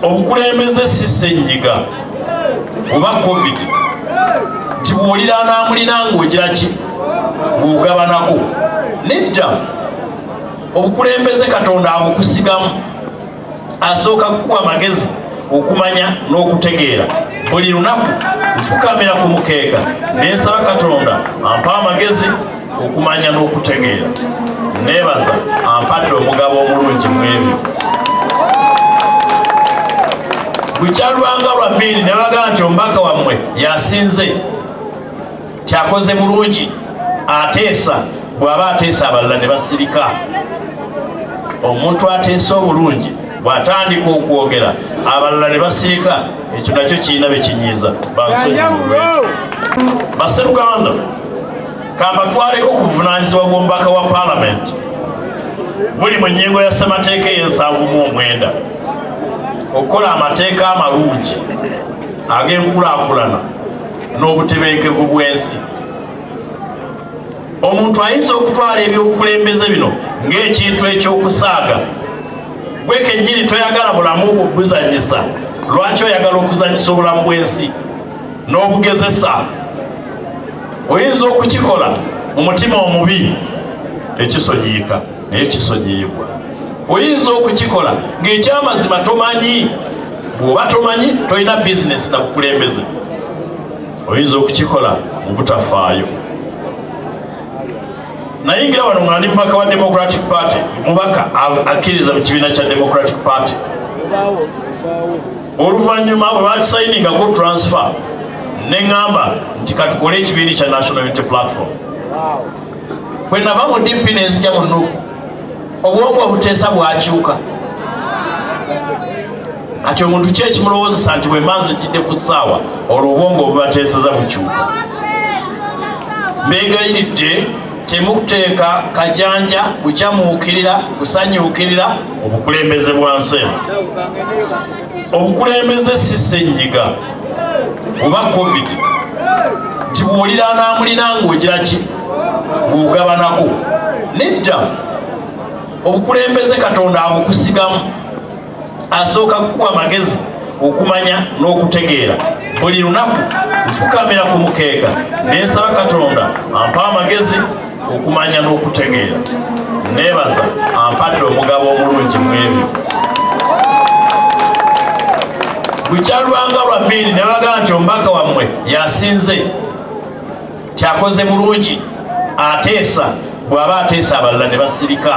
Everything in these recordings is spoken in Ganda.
obukulembeze si senyiga oba covid nti bwolira anamulina ngaogira ki ngaogabanako nedda obukulembeze katonda abukusigamu asooka kukuwa amagezi okumanya n'okutegeera buli lunaku nfukamira ku mukeeka nensaba katonda ampa amagezi okumanya n'okutegeera neebaza ampadde omugabo omulungi mu ebyo lukyalwanga lwa mbiiri ne bagamba nti omubaka wammwe yasinze kyakoze bulungi ateesa bw'aba ateesa abalala ne basirika omuntu ateesa obulungi bw'atandika okwogera abalala ne basirika ekyo nakyo kirina bye kinyiiza bansonyiwa olwekyo baseruganda kambatwaleko ku buvunaanyizibwa bw'omubaka wa paalamenti buli mu nnyingo ya ssemateeka ey'ensanvu mu omwenda okukola amateeka amalungi ag'enkulaakulana n'obutebenkevu bw'ensi omuntu ayinza okutwala ebyobukulembeze bino ng'ekintu eky'okusaaga gwe kennyini toyagala bulamu bwo buzanyisa lwaki oyagala okuzanyisa obulamu bw'ensi n'obugezesa oyinza okukikola mu mutima omubi tekisonyiyika naye kisonyiyibwa oyinza okukikola ng'ekyamazima tomanyi bw'oba tomanyi tolina bizinesi na bukulembeze oyinza okukikola mu butafaayo nayingira wano nga ndi mubaka wa democratic party mubaka akkiriza mu kibiina kya democratic party oluvannyuma bwe batusayiningako transfer ne ŋŋamba nti katukole ekibiini kya national unity platform bwe nava mu dp ne nzija mu nup obwongo obuteesa bwakyuka kati omuntu ki ekimulowoozesa nti bwe manzi kidde ku ssaawa olwo obwongo obubateeseza bukyuka mbegayiridde temuteeka kajanja kukyamuukirira kusanyuukirira obukulembeze bwa nsi eno obukulembeze si ssenyiga oba covid nti bwolira anaamulina ng'ogira ki ng'ogabanako nedda obukulembeze katonda abukusigamu asooka kukuwa amagezi okumanya n'okutegeera buli lunaku nfukamira ku mukeeka nensaba katonda ampa amagezi okumanya n'okutegeera nebaza ampadde omugabo omulungi mwebyo bukyalwanga lwa mbiiri nebaga nti omubaka wammwe yasinze kyakoze bulungi ateesa bw'aba ateesa abalala ne basirika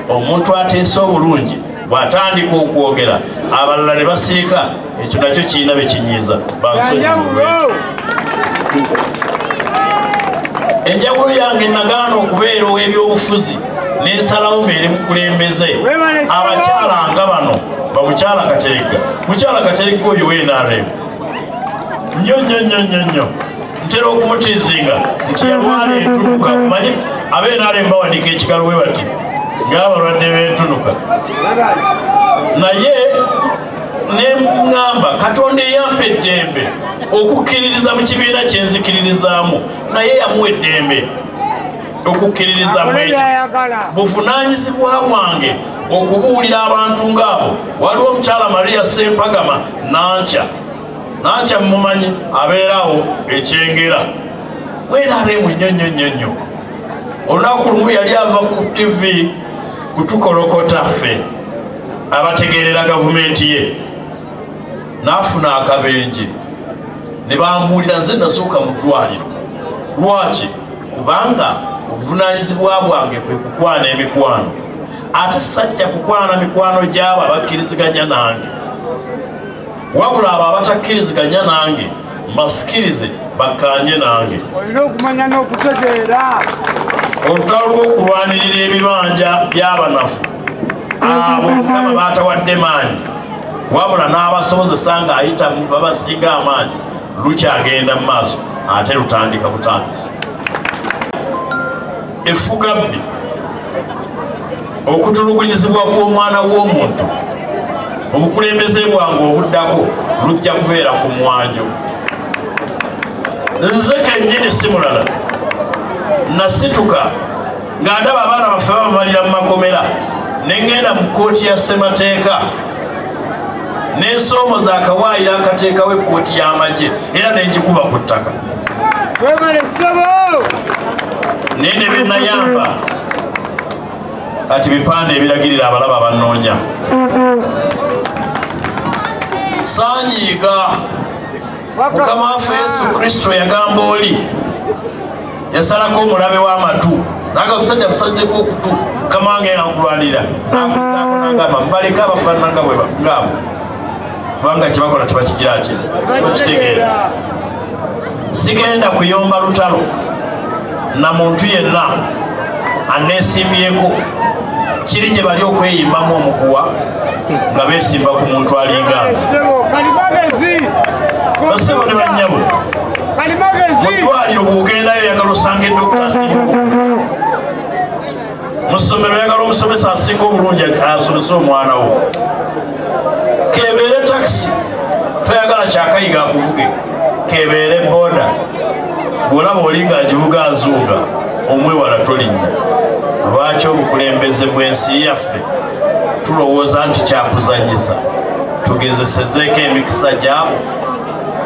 omuntu ateesa obulungi bw'atandika okwogera abalala ne basirika ekyo nakyo kirina be kinyiiza bansonyiwulwekyo enjawulo yange nagaana okubeera ow'ebyobufuzi n'ensalawo mbeere mukulembeze abakyala nga bano bamukyala kateregga mukyala kateregga oyo wenaremu nnyo nnyo nnyo nnyo nnyo ntera okumutizinga nti yalwala entunuka manyi abenaale mbawanika ekigalo we bati ngaabalwadde bentunuka naye neŋŋamba katonda eyampa eddembe okukkiririza mu kibiina kyenzikiririzaamu naye yamuwa eddembe okukkiririza mu ekyo buvunaanyizibwa bwange okubuulira abantu ng'abo waliwo omukyala maria sempagama nankya nankya mumumanyi abeerawo ekyengera wenareemu nnyo nnyo nnyo nnyo olunaku lumu yali ava ku tivi kutukolokota ffe abategeerera gavumenti ye n'afuna akabenje ne bambuulira nze nasooka mu ddwaliro lwaki kubanga obuvunanyizibwa bwange kwe kukwana emikwano ate sajja kukwana mikwano gy'abo abakkiriziganya nange wabula abo abatakkiriziganya nange basikirize bakkaanye nange olina okumanya n'okutegeera olutalo lw'okulwanirira ebibanja by'abanafu abo mukama baatawadde maanyi wabula n'abasobozesa ng'ayita babasinga amaanyi lukyagenda mu maaso ate lutandika butandisi effugabbi okutulugunyizibwa kw'omwana w'omuntu obukulembeze bwange obuddako lujja kubeera ku mwanjo nze kennyini si mulala nasituka nga ndaba abaana baffe babamalira mu makomera ne ŋŋenda mu kkooti ya ssemateeka n'ensoomo za kawaayiro akateekawo ekkooti y'amagye era ne ngikuba ku ttaka Webale ssebo. Nende bye nayamba kati bipande ebiragirira abalaba bannoonya sanyiiga mukama waffe yesu kristo yagamba oli yasalako omulabe w'amatu naga omusajja musazeko okutu mukama wange yankulwanira nakuzaako nagamba mubaleka abafaanana nga bwebagamba kubanga kyebakola tebakigira ki bakitegeera sigenda kuyomba lutalo na muntu yenna aneesimbyeko kiri gye bali okweyimbamu omukuwa nga beesimba ku muntu alinganza basebo ne bannyabo mu ddwaliro bw'ogendayo yagala osanga edokita nsimbuko mu ssomero oyagala omusomesa asinga obulungi asomese omwana wo kebeere takisi toyagala kyakayiga akuvuge kebeere boda bwolaba oli nga agivuga azuuga omwewala tolinnya lwaki obukulembeze bw'ensi yaffe tulowooza nti kyakuzanyisa tugezesezeeko emikisa gyabo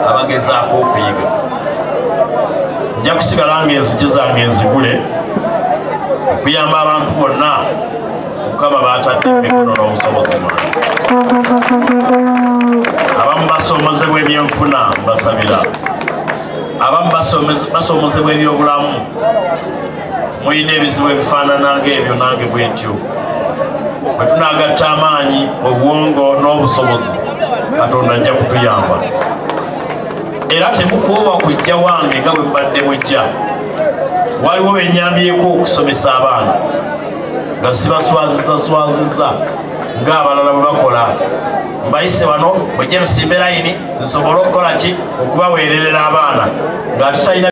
abagezaako okuyiga nja kusigala nga enzigi zange enzigule okuyamba abantu bonna mukama batadde emikono n'obusobozi bwange abamu basoomozebwa ebyenfuna mbasabira abamu basoomozebwa ebyobulamu mulina ebizibu ebifaanana ng'ebyo nange bwe ntyo bwe tunaagatta amaanyi obwongo n'obusobozi katonda ajja kutuyamba era temukoowa kujja wange nga bwe mbadde mujja waliwo benyambyeko okusomesa abaana nga sibaswaziza swaziza ng'abalala bwe bakola mbayise wano mujje musimbe layini nsobole okukola ki okubaweererera abaana nga tutalina